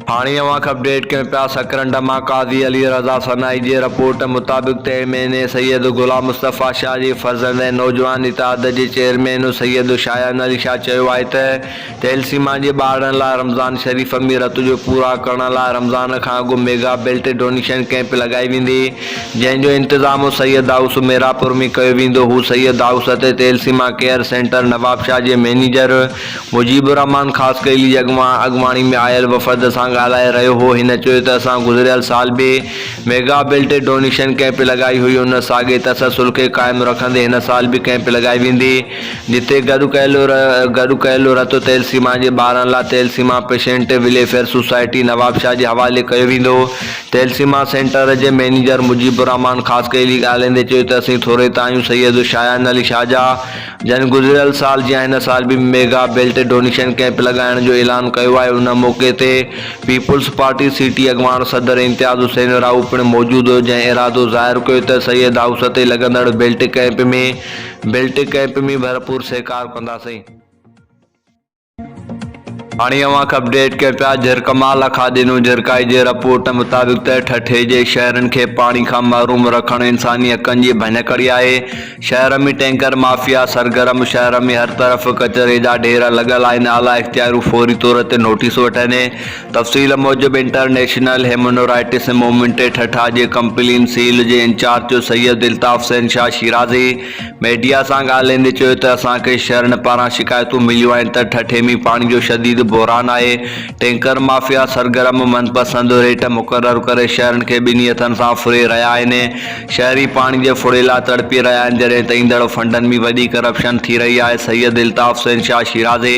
هاڻي اوهان کي اپڊيٽ ڪيون پيا سڪرنڊ مان قاضي علي رضا سنائي جي رپورٽ مطابق تي مهيني سيد غلام مصطفيٰ شاهه جي فرزند ۽ نوجوان اتحاد جي چيئرمين سيد شايان علي شاهه چيو آهي ته ٿيلسيما جي ٻارڙن لاء رمضان شريف ۾ رت جو پورا ڪرڻ لاء رمضان کان اڳ ميگا بلٽ ڊونيشن ڪئمپ لڳائي ويندي جنهن جو انتظام سيد دائوس ميرا پور ۾ ڪيو ويندو هو سيد دائوس تي ٿيلسيما ڪيئر سينٽر نوابشاهه جي مئنيجر مجيب الرحمان خاصخيلي جي اڳواڻي ۾ آيل وفد سان ڳالهائي رهيو هو، هن چيو ته اسان گذريل سال به ميگا بلٽ ڊونيشن ڪئمپ لڳائي هئي، ان ساڳئي تسلسل کي قائم رکندي هن سال به ڪئمپ لڳائي ويندي، جتي گڏ ڪيل گڏ ڪيل رت تيل سيما جي ٻارن لا thalassemia patient welfare society Nawabshah جي حوالي ڪيو ويندو، تيل سيما سينٽر جي مئنيجر مجيب الرحمان خاصخيلي ڳالهائيندي چيو ته اسين ٿوري ته آهيون سيد شاهان علي شاهه جا، جن گذريل سال جيان هن سال به ميگا بيلٽ ڊونيشن ڪئمپ لڳائڻ جو اعلان ڪيو آهي ان موقعي تي پيپلز پارٽي سي ٽي اڳواڻ صدر امتياز حسين راهو پڻ موجود هيو جنهن ارادو ظاهر ڪيو ته سيد هائوس تي لڳندڙ بيلٽ ڪئمپ ۾ بيلٽ ڪئمپ ۾ ڀرپور سهڪار ڪنداسين. هاڻي اوهان کي اپڊيٽ ڪيو پيا جهرڪ مان لکا ڏنو جهرڪائي جي رپورٽ مطابق ته ٺٽي جي شهرين کي پاڻي کان محروم رکڻ انساني حقن جي ڀڃڪڙي آهي شهر ۾ ٽينڪر مافيا سرگرم شهر ۾ هر طرف ڪچري جا ڍير لڳل آهن اعليٰ اختياريون فوري طور تي نوٽيس وٺن تفصيل موجب انٽرنيشنل هيمنورائٽس مومينٽ ٺٽا جي ڪمپلين سيل جي انچارج سيد الطاف شهنشاهه شيرازي ميڊيا سان ڳالهائيندي چيو ته اسان کي شھرين پاران شڪايتون مليون آهن ته ٺٺي ۾ پاڻي جو شديد بحران آهي، ٽينڪر مافيا سرگرم من پسند ريٽ مقرر ڪري شھرين کي ٻنهي هٿن سان ڦري رهيا آهن، شهري پاڻي جي ڦڙي لاء تڙپي رهيا آهن جڏهن ته ايندڙ فنڊن ۾ وڏي ڪرپشن ٿي رهي آهي، سيد الطاف حسين شاهه شيرازي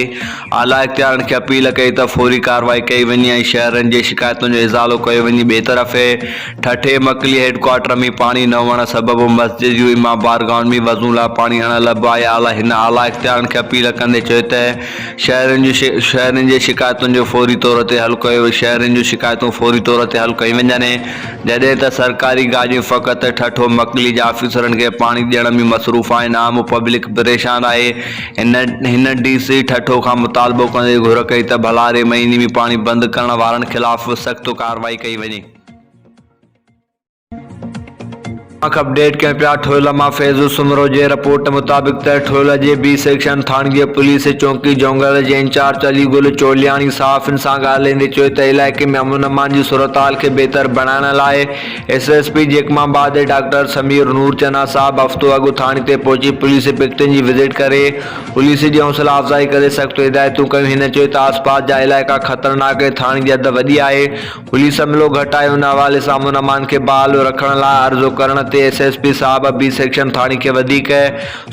اعليٰ اختيارين کي اپيل ڪئي ته فوري ڪارروائي ڪئي وڃي ۽ شهرين جي شڪايتن جو ازالو ڪيو وڃي ٻئي طرف ٺٽي مڪلي هيڊڪوارٽر ۾ پاڻي نه هئڻ سبب مسجد جون امام بارگاهن ۾ وضون لاء پاڻي آڻڻ لڳ پيا آهي اعليٰ هن اعليٰ اختيارين کي اپيل ڪندي چيو ته شهرين جون شهرين جي شڪايتن جو فوري طور تي حل ڪيو شهرين جون شڪايتون فوري طور تي حل ڪيون وڃن جڏهن ته سرڪاري گاڏيون فقط ٺٽو مڪلي جي آفيسرن کي پاڻي ڏيڻ ۾ مصروف آهن عام پبلڪ پريشان آهي هن هن ڊي سي ٺٽو کان مطالبو ڪندي گهر ڪئي ته ڀلاري مهيني ۾ پاڻي بند ڪرڻ وارن خلاف سخت ڪارروائي ڪئي وڃي. اک اپڊيٽ ڪيون پيا ٺويل مان فيضو سومرو جي رپورٽ مطابق ته ٺويل جي بي سيڪشن ٿاڻگي پوليس چونڪي جونگل جي انچارج علي گل چولياڻي صحافين سان ڳالهائيندي چيو ته علائقي ۾ امن امان جي صورتحال کي بهتر بڻائڻ لاء S S P Jacobabad doctor Sameer نور چنا صاحب هفتو اڳ ٿاڻي تي پهچي پوليس پڪيٽن جي وزٽ ڪري پوليس جي حوصلا افزائي ڪري سخت هدايتون ڪيون هن چيو ته آسپاس جا علائقا خطرناڪ ۽ ٿاڻي جي حد وڏي آهي پوليس عملو گهٽ آهي ان حوالي سان امن امان کي بحال رکڻ لاء عرضو ڪرڻ تي ايس ايس پي صاحب بي سيڪشن ٿاڻي کي وڌيڪ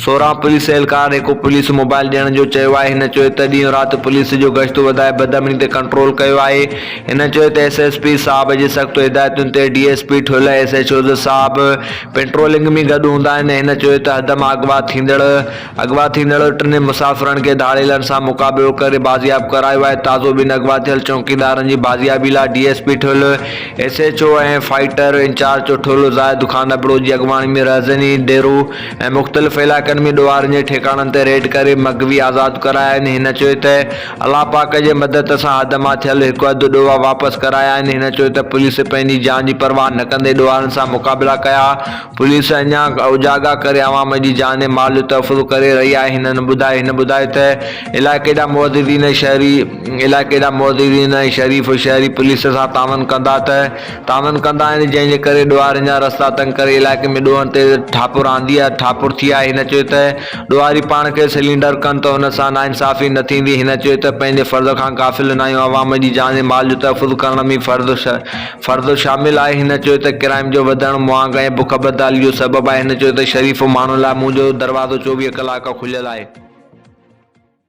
سورهن پوليس اهلڪارن هڪ پوليس موبائل ڏيڻ جو چيو آهي هن چيو ته ڏينهن رات پوليس جو گشت وڌائي بدامني تي ڪنٽرول ڪيو آهي هن چيو ته ايس ايس پي صاحب جي سخت هدايتن تي D S P Thul S H Os صاحب پيٽرولنگ ۾ گڏ هوندا آهن هن چيو ته حدم اغوا ٿيندڙ اغوا ٿيندڙ ٽنهي مسافرن کي ڌاڙيلن سان مقابلو ڪري بازياب ڪرايو آهي، تازو ٻن اغوا ٿيل چوڪيدارن جي بازيابي لاء D S P Thul, S H O ۽ fighter incharge جو ٺلهه زاهد خان ابڙو جي اڳواڻي ۾ رهزني، ديرو ۽ مختلف علائقن ۾ ڏوهارين جي ٺڪاڻن تي ريڊ ڪري مغوي آزاد ڪرايا آهن، هن چيو ته الله پاڪ جي مدد سان حد مان ٿيل هڪ اڌ ڏوها واپس ڪرايا آهن، هن چيو ته پوليس پنهنجي جان جي پرواهه نه ڪندي ڏوهارين سان مقابلا ڪيا، پوليس اڃا اوجاڳا ڪري عوام جي جان ۽ مال جو تحفظ ڪري رهي آهي هن ٻڌايو هن ٻڌايو ته علائقي جا معززين شهري علائقي جا معززين ۽ شريف شهري پوليس سان تعاون ڪندا ته تعاون ڪندا آهن جنهن جي ڪري ڏوهارين جا رستا تنگ ڪري علائقي ۾ ڏوهن تي ٺاپر آندي ٺاپر ٿي آهي هن چيو ته ڏوهاري پاڻ کي سلينڊر ڪن ته ان سان ناانصافي نه ٿيندي هن چيو ته پنهنجي فرض کان غافل نه آهيون عوام جي جان ۽ مال جو تحفظ ڪرڻ ۾ فرض فرد شامل آهي، هن چيو ته ڪرائم جو وڌڻ مهانگ ۽ بک بدحالي جو سبب آهي، هن چيو ته شريف ماڻهن لاء منهنجو دروازو چوويهه ڪلاڪ کليل آهي.